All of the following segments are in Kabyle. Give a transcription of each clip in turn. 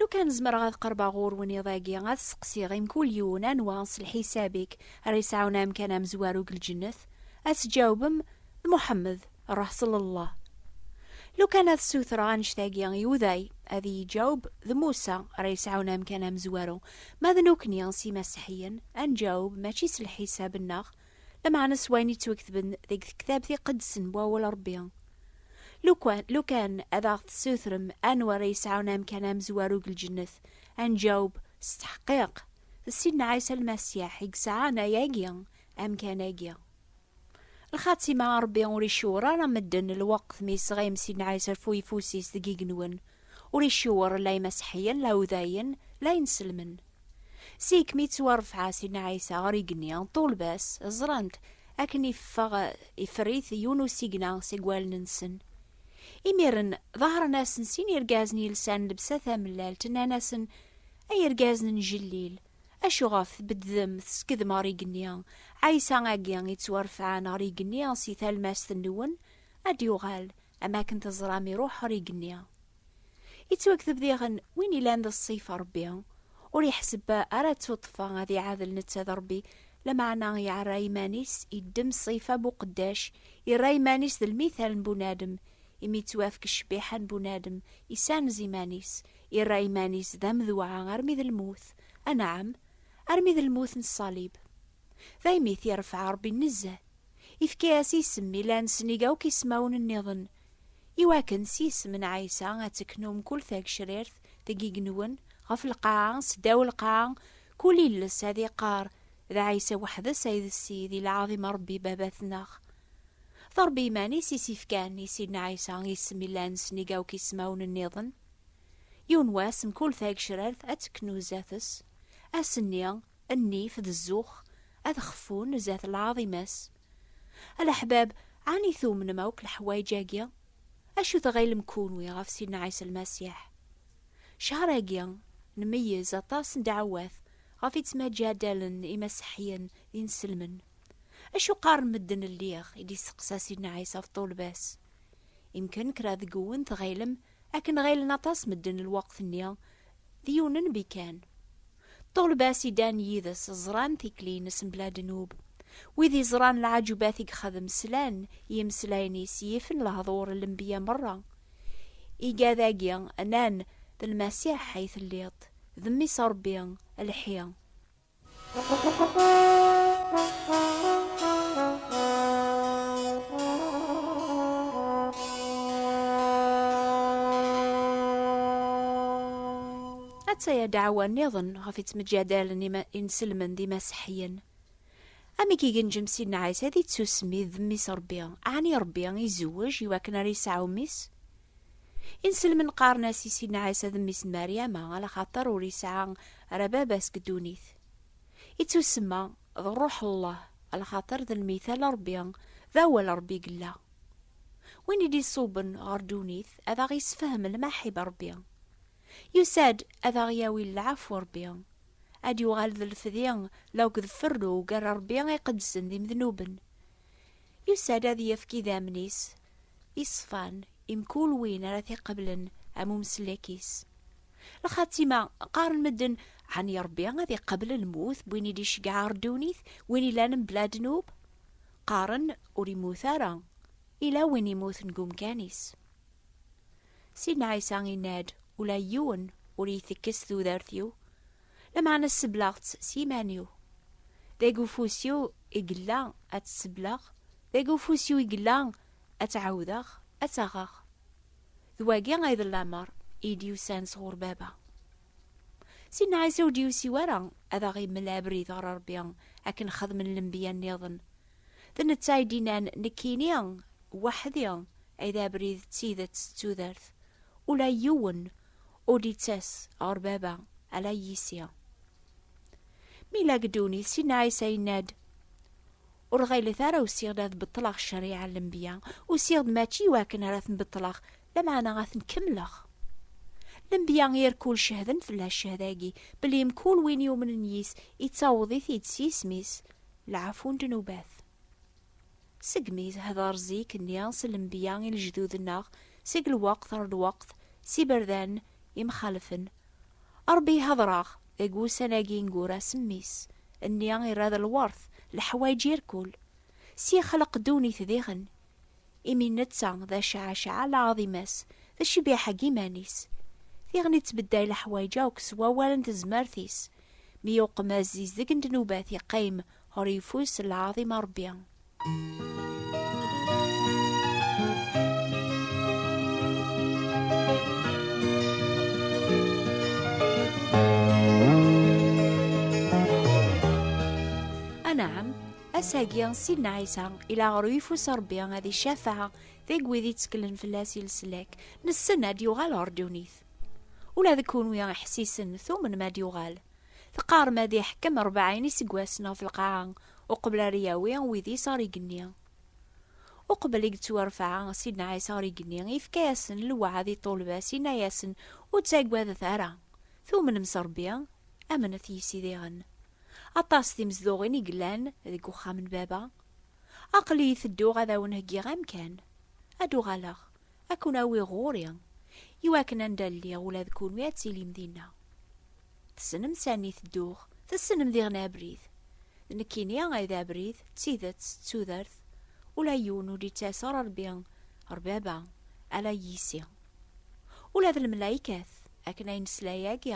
Lu kan zemreɣ ad qerbeɣ ɣur-wen iḍ-agi, ad seqsiɣ i mkul yiwen anwa s lḥisab-ik ara yesɛun amkan amezwaru deg lǧennet? Ad tjawbem, D Muḥemmed, Ṛuḥ s Lellah. Lu kan ad ssutreɣ annect-agi i Uday, ad iyi-jawb, D Musa, ara yesɛun amkan amezwaru. Ma d nekni s Imaseḥiyen, ad njawb mačči s lḥisab-nneɣ, Lameɛna s wayen yettwaketben deg Tektabt Iqedsen n Wawal n Ṛebbi, lukan, lukan ad aɣ-d-tessutrem anwa ara yesɛun amkan amezwaru deg lǧennet, ad nǧaweb, S ttḥeqqiq, d Sidna Ɛisa Lmasiḥ i yesɛan ayagi, amkan-agi. Lxatima, Ṛebbi ur icewwer ara medden lweqt mi yesɣim Sidna Ɛisa ɣef uyeffus-is deg yigenwen, ur icewwer la Imaseḥiyen, la Udayen, la Inselmen. Seg mi ttwarefɛa Sidna Ɛisa ɣer igenni, ṭṭulba-s ẓran-t akken iffeɣ iferr-it yiwen n usigna seg wallen-nsen. Imiren, ḍahṛen-asen sin irgazen yelsan lebsa tamellalt, nnan-asen, Ay irgazen n Jellil! Acuɣef tbeddem teskedmem ɣer igenni? Ɛisa-agi i ttwarefɛan ɣer igenni si talmast-nwen, ad d-yuɣal, am akken teẓram iṛuḥ ɣer igenni. Ittwakteb diɣen win ilan d ṣṣif Ṛebbi ur iḥseb ara ttuṭṭfa ad iɛadel netta d Ṛebbi, lameɛna iɛerra iman-is, iddem ṣṣifa n uqeddac, irra iman-is d lmithal n bunadem, imi ittwafk ccbiḥa n bunadem, isanez iman-is, irra iman-is d amedweɛ armi d lmut, anɛam, armi d lmut n ṣṣalib. Daymi t-iṛefɛa Ṛebbi nezzeh, ifka-yas isem ilan snig akk ismawen nniḍen, Iwakken s yisem n Ɛisa ad teknu mkul tagecrirt deg yigenwen, ɣef lqaɛa, seddaw lqaɛa, kul iles ad iqqar, D Ɛisa weḥd-s ay d Ssid, i lɛaḍima n Ṛebbi Baba-tneɣ. D Ṛebbi iman-is i s-ifkan i Sidna Ɛisa isem yellan s nnig akk ismawen nniḍen. Yiwen wass mkul tagecrirt ad teknu zdat-s, ass-nni, nnif d zzux ad xeffun zdat lɛaḍima-s. Alaḥbab, ɛni tumnem akk leḥwayeǧ-agi? Acu tɣilem kunwi ɣef Sidna Ɛisa Lmasiḥ? Ccher-agi, nmeyyez aṭas n ddeɛwat ɣef i ttmaǧaddalen imaseḥyen d inselmen. Acu qqaren medden lliɣ? i d-isteqsa Sidna Ɛisa ɣef ṭṭulba-s. Imken kra deg-wen tɣilem Akken ɣilen aṭas medden lweqt-nni d yiwen n nnbi kan. Ṭṭulba-s i ddan yid-s ẓran tikli-ines mebla ddnub. Wid iẓran lɛaǧubat i yexdem slan i yimeslayen-is yifen lehdur n lenbiya merra. Iga dagi nnan, D Lmasiḥ ay telliḍ, d Mmi-s n Rebbi, lḥi. Atta-ya dɛawa nniḍen ɣef ittmeǧadalen inselmen d imaseḥyen. Amek i genjem Sidna Ɛisa di tsusmi d mmi-s Rebbi, ɛni Rebbi izewwej i wakken ara yesɛu mmi-s? Inselmen qqaren-as i Sidna Ɛisa d mmi-s n Mariama, ala xaṭer ur yesɛa ara baba seg ddunit. Ittusemma d Rruḥ n Llah, ala xaṭer d lmithal n Rebbi, d awal n Rebbi i yella. Win i d-iṣubben ɣer ddunit ad aɣ-yessefhem lmaḥib n Rebbi. Yusa-d ad aɣ-yawi lɛafw n Rebbi, ad d-yuɣal d lefdi la akked ferru gar Rebbi iqedsen d imednuben. Yusa-d ad yefk idammen-is iṣfan i mkul win ara t-iqeblen am umsellek-is. Lxatima, qqaren medden, ɛni Rebbi ad iqebl lmut n win i d-iceggeɛ ɣer ddunit, win ilan mebla ddnub? Qqaren, ur immut ara, ila win immuten deg umkan-is. Sidna Ɛisa inna-d, ula yiwen ur iyi-tekkes tudert-iw, lameɛna sseblaɣ-tt s yiman-iw. Deg ufus-iw i yella ad tt-sebleɣ, Dagi ufus-iw i yella ad tt-ɛawdeɣ ad tt-aɣeɣ. D wagi ay d lameṛ i d-yusan sɣur Baba. Sidna Ɛisa ur d-yusi wara ad aɣ-imel abrid ɣer Ṛebbi akken xedmen lenbiya nniḍen. D netta ay d-yennan, Nekkini weḥd-i ay d abrid d tidet d tudert. Ula yiwen ur d-yettas ɣer Baba ala yis-i. Mi yella deg ddunit, Sidna Ɛisa yenna-d, Ur ɣilet ara usiɣ-d ad beṭleɣ ccariɛa n lenbiya, usiɣ-d mačči i wakken ara ten-beṭleɣ, lameɛna ad ten-kemmleɣ. Lenbiya irkul cehden fell-as cehd-agi, belli mkul win yumnen yis, ittaweḍ-it-id s yisem-is, lɛafu n ddnubat. Segmi tehder zik-nni s lenbiya i lejdud-nneɣ, seg lweqt ɣer lweqt, s iberdan imxalfen, A Ṛebbi ihaḍṛaɣ deg wussan-agi ineggura s Mmi-s, nni irra d lweṛt leḥwayeǧ irkul, s yexleq ddunit diɣen, imi netta d Acaɛacaɛ lɛaḍimas, d ccbiḥa n yiman-is, diɣen ittbedday leḥwayeǧ akk s wawal n tezmert-is, mi uqmaz izdeg n ddnubat iqqim ɣer ufus n lɛaḍima Ṛebbi. Anaɛam, asagi Sidna Ɛisa ila ɣer uyeffus Rebbi ad icafeɛ deg wid yettkellen fell-as i leslak, nessen ad d-yuɣal ɣer ddunit. Ula d kunwi ḥessisen tumen ma d-yuɣal, Teqqarem ad iḥkem rebɛin iseggasen ɣef lqaɛa uqbel ara yawi wid-is ɣer igenni. Uqbel i yettwarfeɛ Sidna Ɛisa ɣer igenni, yefka-yasen lewɛed i ṭṭulba-s, yenna-yasen, Ur ttaggadet ara! Tumnem s Rebbi, amnet yis-i diɣen. Aṭas timezduɣin i yellan deg uxxam n Baba. Aql-iyi tedduɣ ad awen-heggiɣ amkan. Ad d-uɣaleɣ, Ad ken-awiɣ ɣur-i, iwakken anda lliɣ ula d kunwi ad tilim dinna. Tessnem sani tedduɣ, tessnem diɣen abrid. D nekkini ay d abrid, d tidet, d tudert, ula yiwen ur d-yettas ɣer Rebbi, ɣer Baba, ala yis-i. Ula d lemlaykat, akken ay nesla yagi,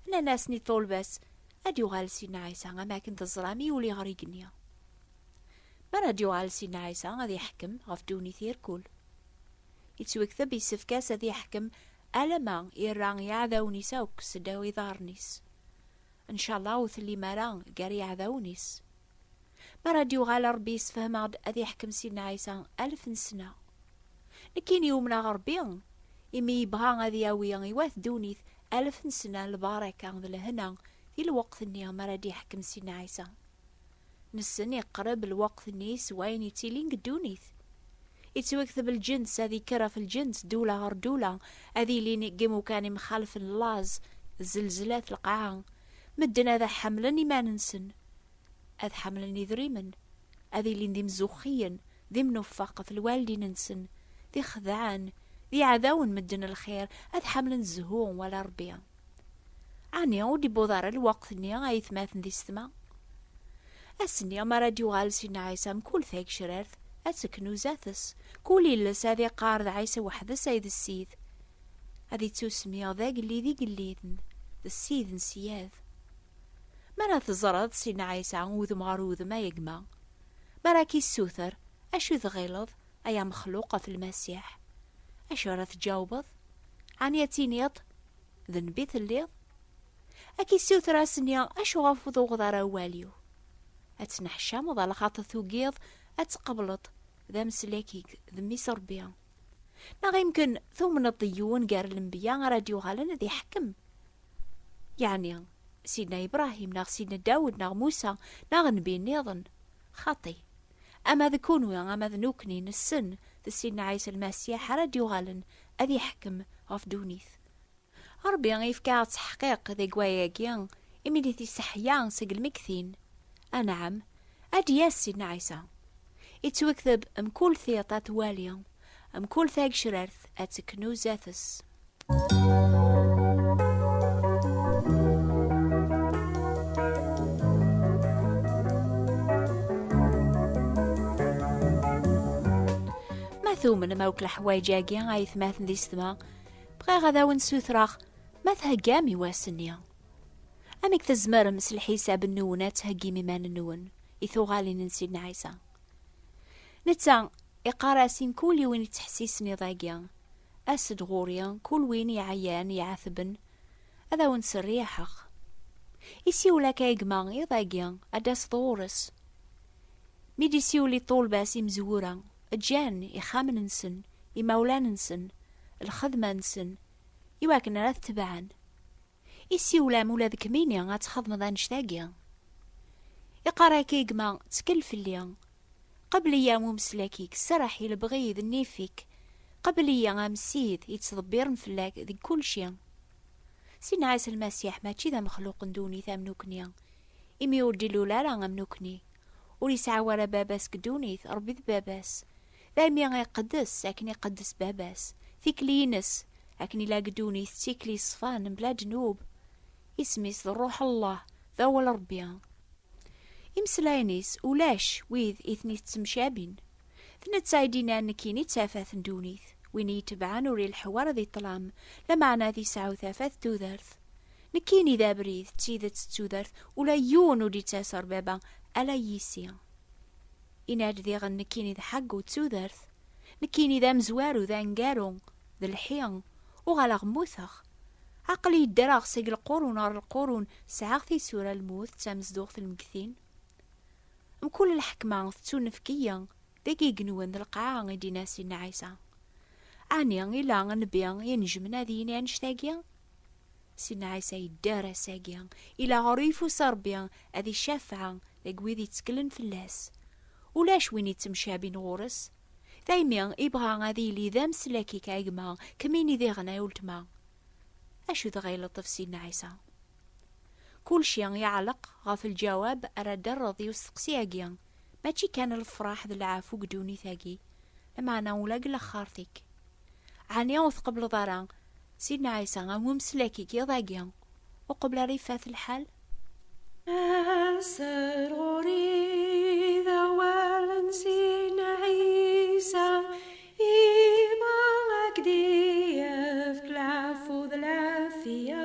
nnan-asen i ṭṭulba-s, Ad d-yuɣal Sidna Ɛisa am wakken teẓram yuli ɣer yigenni. Ma Radyu Ɛelsi n Ɛisa ad iḥekkem ɣef ddunit yir kul. Yettwekteb yessefk-as ad iḥekkem alama irra iɛdawen-is akk seddaw iḍarren-is. Ncallah ur tellim ara gar yiɛdawen-is. Mi ara d-yuɣal Ṛebbi yessefhem-aɣ-d ad iḥekkem Sidna Ɛisa alef n ssna. Nekkini umneɣ Ṛebbi imi yebɣa ad yawi i wat ddunit alef n ssna n lbaraka d lehna di lweqt-nni mi ara d-iḥekkem Sidna Ɛisa. Nessen iqreb lweqt-nni s wayen yettilin deg ddunit. Yettwakteb lǧens ad yekker ɣef lǧens, ddula ɣer ddula, ad ilin deg imukan imxalfen laẓ, zelzlat, lqaɛa. Medden ad ḥemlen iman-nsen, ad ḥemlen idrimen, ad ilin d imzuxxiyen, d imnufeq ɣef lwaldin-nsen, d ixedɛen, d iɛdawen medden lxir, ad ḥemlen zzhu wala Rebbi. Ɛni ur d-iwweḍ ara lweqt-nni, a aytmaten di ssetma? Ass-nni mi ara d-yuɣal Sidna Ɛisa, mkul tagecrart ad teknuza-tes, kul iles ad iqqar d Ɛisa weḥd-s ay d Ssid, ad ittusmiɣ d Agellid igelliden, d Ssid n ssyad. Mi ara teẓreḍ Sidna Ɛisa udem ɣer udem, ay gma, mi ara k-issuter, acu tɣileḍ, Ay amexluq ɣef Lmasiḥ, acu ara tǧawbeḍ? Ɛni ad tiniḍ, D nnbi telliḍ? Ad k-issuter ad s-nni, Acu ɣef ur tuɣeḍ ara awal-iw? Ad tneḥcameḍ a lxaṭer tugiḍ ad tqebleḍ d ameslak-ik d Mmi-s Rebbi? Neɣ imken tumneḍ d yiwen gar lenbiya ara d-yuɣalen ad iḥekkem? Yeɛni Sidna Ibrahim neɣ Sidna Dawed neɣ Musa neɣ nnbi nniḍen? Xaṭi, Ama d kunwi ama d nukni nessen d Sidna Ɛisa Lmasiḥ ara d-yuɣalen ad iḥekkem ɣef ddunit. Ṛebbi yefka-aɣ-d ttaḥqiq deg waya-agi imi di tiseḥya seg lmegtin, anɛam, ad d-yas Sidna Ɛisa. Ittwekteb, Mkul tiṭ ad twali, mkul tagecrart ad teknu zdat-s. tumnem akk leḥwayeǧ-agi ay tmaten di setma bɣiɣ ad awen-ssutreɣ ma theggam i wass-nni amek tzemrem s lḥisab-nwen ad theggim iman-nwen i tuɣalin n Sidna Ɛisa netta iqar-as i mkul yiwen yettḥessisen iḍ-agi As-d ɣur-i, kul win iɛyan, iɛetben, ad awen-serriḥeɣ. Isiwel akka i gma, iḍ-agi, ad d-taseḍ ɣur-s. Mi d-isiwel i ṭṭulba-s imezwura, ǧǧan ixxamen-nsen, imawlan-nsen, lxedma-nsen, i wakken ara t-tebɛen. Isiwlam ula d kmini ad txedmeḍ annect-agi. Iqarr-ak-ig ma ttkel fell-i. Qebl-iyi am umeslak-ik, serreḥ i lebɣi d nnif-ik, qebl-iyi am ssid yettḍebbiren fell-ak deg kulci. Ssid Ɛisa Lmasiḥ mačči d amexluq n ddunit am nukni, imi ur d-ilul ara am nukni. Ur yesɛi wara baba-s deg ddunit, Rebbi d Baba-s. Daymi iqeddes akken iqeddes Baba-s, tikli-ines, akken i la ddunit d tikli yeṣfan mebla ddnub. Isem-is d Ṛṛuḥ Allah, d awal Ṛebbi. Imeslayen-is ulac wid i ten-iţţemcabin. D netta i d-innan nekkini d tafat n ddunit, win i yi-tebɛen ur ileḥḥu ara di ṭṭlam, lameɛna ad yesɛu tafat d tudert. Nekkini d abrid, d tideţ d tudert, ula yiwen ur d-iţţas ɣer Baba, ala yis-i. Yenna-d diɣen nekkini d ḥeggu d tudert, nekkini d amezwaru d aneggaru, d lḥi, uɣaleɣ mmuteɣ. Aql-i ddreɣ seg lqurun ɣer lqurun, sɛiɣ tisura, lmut d tamezduɣt lmeggtin. Mkul lḥekma tettunefk-iyi, deg igenwen d lqaɛa i d-yenna Sidna Ɛisa. Ɛni ila nnbi i inejjmen ad yini annect-agi? Si Nɛisa yedder ass-agi ila ɣer uyeffus Ṛebbi ad icafeɛ deg wid yetteklen fell-as. Ulac win yettemcabin ɣur-s. Daymi ibɣa ad yili d ameslakik a gma, kemmini diɣen ay uletma. Acu dɣa ileṭṭef Si Nɛisa? Kulci iɛelleq ɣef lǧawab ara d-terreḍ i usteqsi-agi. Mačči kan lefraḥ d lɛafu deg ddunit-agi, lameɛna ula deg laxert-ik. Ɛni ur tqebbleḍ ara Sidna Ɛisa am umeslak n yiḍ-agi uqbel ara ifat lḥal? Aser ɣur-i d awal n Sidna Ɛisa, ima a k-d-yefk lɛafu d lɛafya.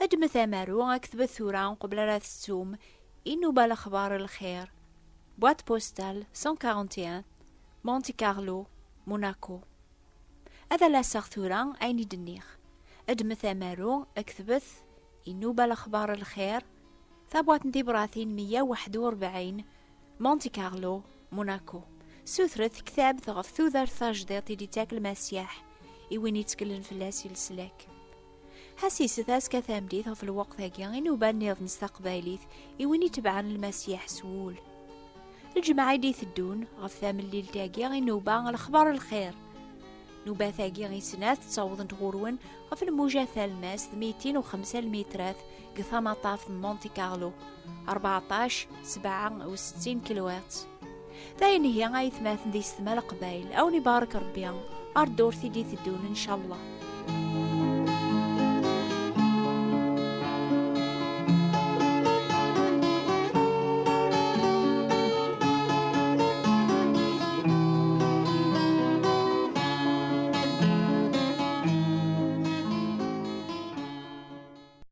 Ddmet amaru aktbet tura uqbel ara tettum inuba lexbar lxir. Boîte postale 141 Monte Carlo, Monaco. Ad alaseɣ tura ayen i d-nniɣ. Ddmet amaru aktbet inuba lexbar lxir tabwaṭ n tibratin 141 Monte Carlo, Monaco. Sutret tektabt ɣef tudert tajdiṭ i d-ittak lmasiḥ i win itkellen fell-as i leslak. Ḥasis taska tamdit ɣef lweqt-agi inuban-nniḍen s taqbaylit i win itebɛen lmasiḥ s wul. Lǧemɛa i d-iteddun ɣef tamellilt-agi inuba lexbar n lxir. Nubat-agi i snat ttawḍent ɣur-wen ɣef lmuja talmast d mitin u xemsa lmitrat deg tamaṭaf n Monte Carlo, 14 67 kilowat. D ayen ihi ay tmaten di setma leqbayl, aw ni barak Rebbi, ar ddurt i d-iteddun, incallah.